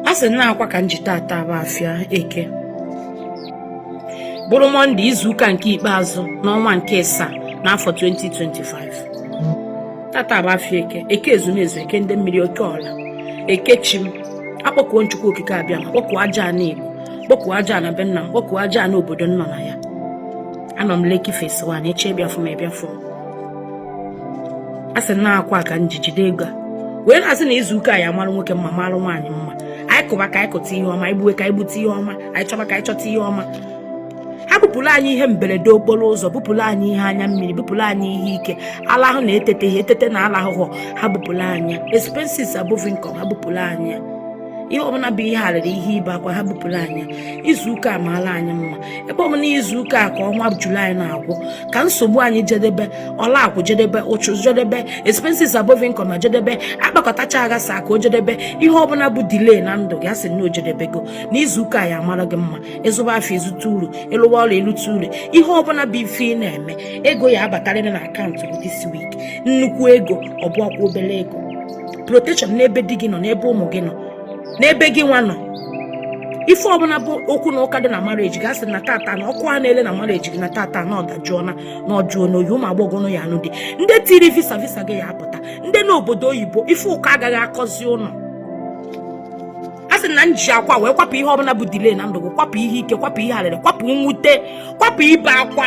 a sị na akwa ka m ji tata bụ afịa eke bụrụ mọnde izuụka nke ikpeazụ n'ọnwa nke ịsaa n'afọ 2025 tata bụ afịa eke eke ezumezu eke ndị mmiri oke ọla eke chi m akpọkuo m chukwu okike abịama kpọkuo aja ana igbo kpọkuo aja ana be nna m kpọkuo aja ana obodo m nọ na ya anọ m lekki phase one eche bịafụ m ebịafụ m a sị na akwa ka m ji jide ego a wee na-asị na izu ụka ya mara nwoke mma mara nwaanyị mma anyị kụba ka anyị kụta ihe ọma anyị gbuwe ka anyị gbute ihe ọma anyị chọba ka anyị chọta ihe ọma ha bupụrụ anyị ihe mberede okporo ụzọ bupụrụ anyị ihe anya mmiri bupụrụ anyị ihe ike alahụ na etetehe etete na alahụhụ ha bupụrụ anyị expenses above income ha bupụrụ anyị ihe ọbụla bụ ihe arịrị ihe ibe akwa ha bupụrụ anyị izu ụka amaala anyị mma ebe ọ bụ na izu ụka a ka ọnwa julaị na-agwụ ka nsogbu anyị jedebe ọlakwụ jedebe ụchụ jedebe expenses above income jedebe akpakọtacha aghasa ka o jedebe ihe ọbụla bụ delay na ndụ gị asị na o jedebego n'izu ụka ya amara gị mma ị zụba afịa ezute uru ị lụwa ọrụ elute uru ihe ọbụla bụ ife ị na-eme ego ya abatarịrị na akaụntụ gị this week nnukwu ego ọ bụhọkwa obere ego protection n'ebe di gị nọ n'ebe ụmụ gị nọ n'ebe gị nwa nọ ife ọbụla bụ okwu na ụka dị na marriage gị asị na tata na ọkụ a na-ele na marriage gị na tata na ọ dajụọna na ọ jụọna oyi ụmụ agbọghọ unu ya anụ di ndị tiri visa visa gị ya apụta ndị nọ obodo oyibo ife ụkọ agaghị akọzi unu a sị na m ji akwa wee kwapụ ihe ọbụla bụ delay na ndụ gị kwapụ ihe ike kwapụ ihe arịrị kwapụ nwute kwapụ ibe akwa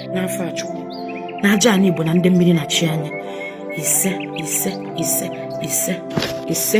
n'afọ a chukwu na aja ana igbo na ndị mmiri na chi anyị ise ise ise ise ise